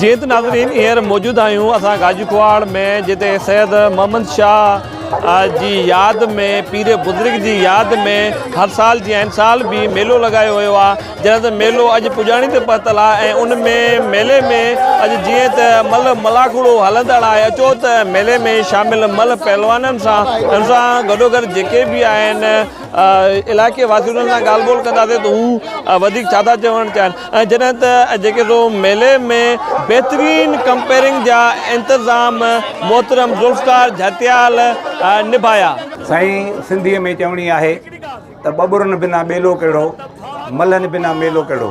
جيئن ته ناظرين هينئر موجود آهيون اسان گاجي ڪواڙ ۾ جتي سيد محمد شاهه جي ياد ۾ پير بزرگ جي ياد ۾ هر سال جي آهن سال به ميلو لڳايو ويو آهي جڏهن ته ميلو اڄ پڄاڻي تي پهتل آهي ۽ ان ۾ ميلي ۾ اڄ جيئن ته مل ملاکڙو هلندڙ آهي اچو ته ميلي ۾ شامل مل پهلوانن سان ان سان گڏو گڏ جيڪي به آهن علائقي واسين سان ڳالهه ٻولهه ڪنداسين ته هو وڌيڪ ڇا ٿا چوڻ چاهين ۽ جڏهن ته جيڪي سو ميلي ۾ بهترين ڪمپيئرنگ جا انتظام محترم ذوالفقار جهتيال نڀايا. سائين سنڌيء ۾ چوڻي آهي ته ٻٻرن بنا ٻيلو ڪهڙو، ملهن بنا ميلو ڪهڙو.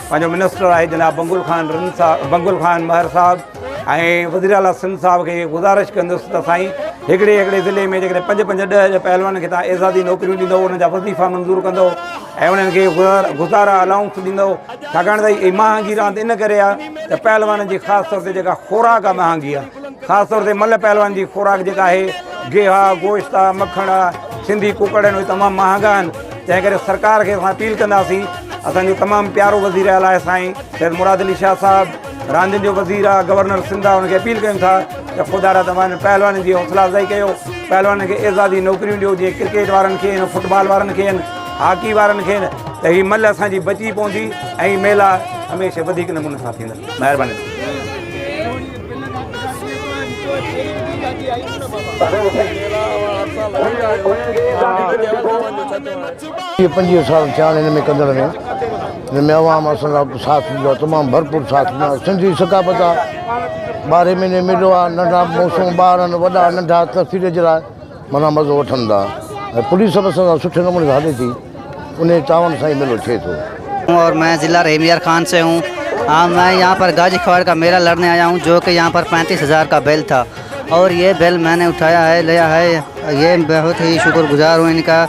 پنهنجو منسٽر آهي جناب بنگل خان رند صاحب بنگل خان مهر صاحب ۽ وزير اعلٰي سنڌ صاحب کي گذارش ڪندس ته سائين هڪڙي هڪڙي ضلعي ۾ جيڪڏهن پنج پنج ڏهه ڏهه پهلوانن کي تان اعزازي نوڪريون ڏيندو انهن جا وظيفا منظور ڪندو ۽ انهن کي گذارا الاؤنس ڏيندو ڇاڪاڻ ته هي مهانگي راند ان ڪري آهي ته پهلوانن جي خاص طور تي جيڪا خوراڪ آهي مهانگي آهي خاص طور تي ملهه پهلوان جي خوراڪ جيڪا آهي گيها، گوشت آ، مکڻ آ، سنڌي ڪڪڙ آهن اهي تمام مهانگا آهن تنهن ڪري سرڪار کي اسان اپيل ڪنداسين اسان جو تمام پيارو وزير اعليٰ آهي سائين سيد مراد علي شاهه صاحب راندين جو وزير آ، گورنر سنڌ آ ان کي اپيل ڪيون ٿا ته خدا را توهان هن پهلوانن جي حوصلا افزائي ڪيو پهلوانن کي اعزازي نوڪريون ڏيو جيئن ڪرڪيٽ وارن کي آهن فٽ بال وارن کي آهن هاڪي وارن کي آهن ته هي ملهه اسان جي بچي پوندي ۽ ميلا هميشه وڌيڪ نموني سان ٿيندا مهرباني پنجويهه سال ٿيا آهن هن ۾ ڪندڙ ۾ هن ۾ عوام اسان لاء ساٿ ڏنو آهي تمام ڀرپور ساٿ ڏنو آهي سنڌي ثقافت آهي ٻارهين مهيني ميلو آهي ننڍا موسم ٻار آهن وڏا ننڍا تفريح جي لاء منا مزو وٺن ٿا ۽ پوليس به اسان سان سٺي نموني سان هلي ٿي انهي تعاون سان ئي ميلو ٿئي ٿو. اور مين ضلع رحيم يار خان سي هون ها مين يهان پر گاجي کواڙ ڪا ميلا لڙني آيا هون جو ڪي يهان پر پينتيس هزار ڪا بيل ٿا اور يي بيل ميني اٺايا هي ليا هي يي بهوت هي شڪر گزار هون انڪا.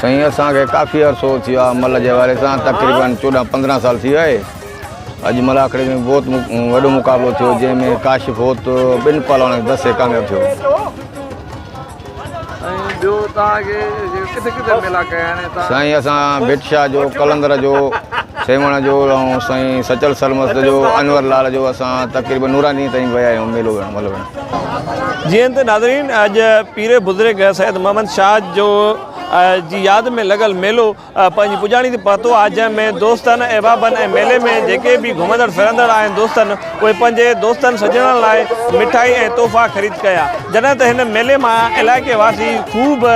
سائين اسان کي ڪافي عرصو ٿي ويو آهي مل جي حوالي سان تقريبن چوڏهن پندرهن سال ٿي ويا آهي اڄ مل آکڙي ۾ بهت وڏو مقابلو ٿيو جنهن ۾ ڪاشف هوت ٻن پهلوانن کي دسي ڪامياب ٿيو سائين اسان ڀٽ شاهه جو قلندر جو سيوهڻ جو سائين سچل سلمست جو انور لال جو اسان تقريبن نوراني تائين ويا آهيون ميلو مل جي ايم تي ناظرين اڄ پير بزرگ سيد محمد شاهه جو جي ياد ۾ لڳل ميلو پنهنجي پڄاڻي تي پهتو آهي جنهن ۾ دوستن احبابن ۽ ميلي ۾ جيڪي به گهمندڙ ڦرندڙ آهن دوستن اهي پنهنجي دوستن سڄڻن لاء مٺائي ۽ تحفا خريد ڪيا جڏهن ته هن ميلي مان علائقي واسي خوب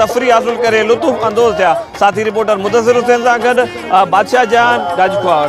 تفريح حاصل ڪري لطف اندوز ٿيا ساٿي رپورٽر مدثر حسين سان گڏ بادشاهه جهان گاجڪواڙ.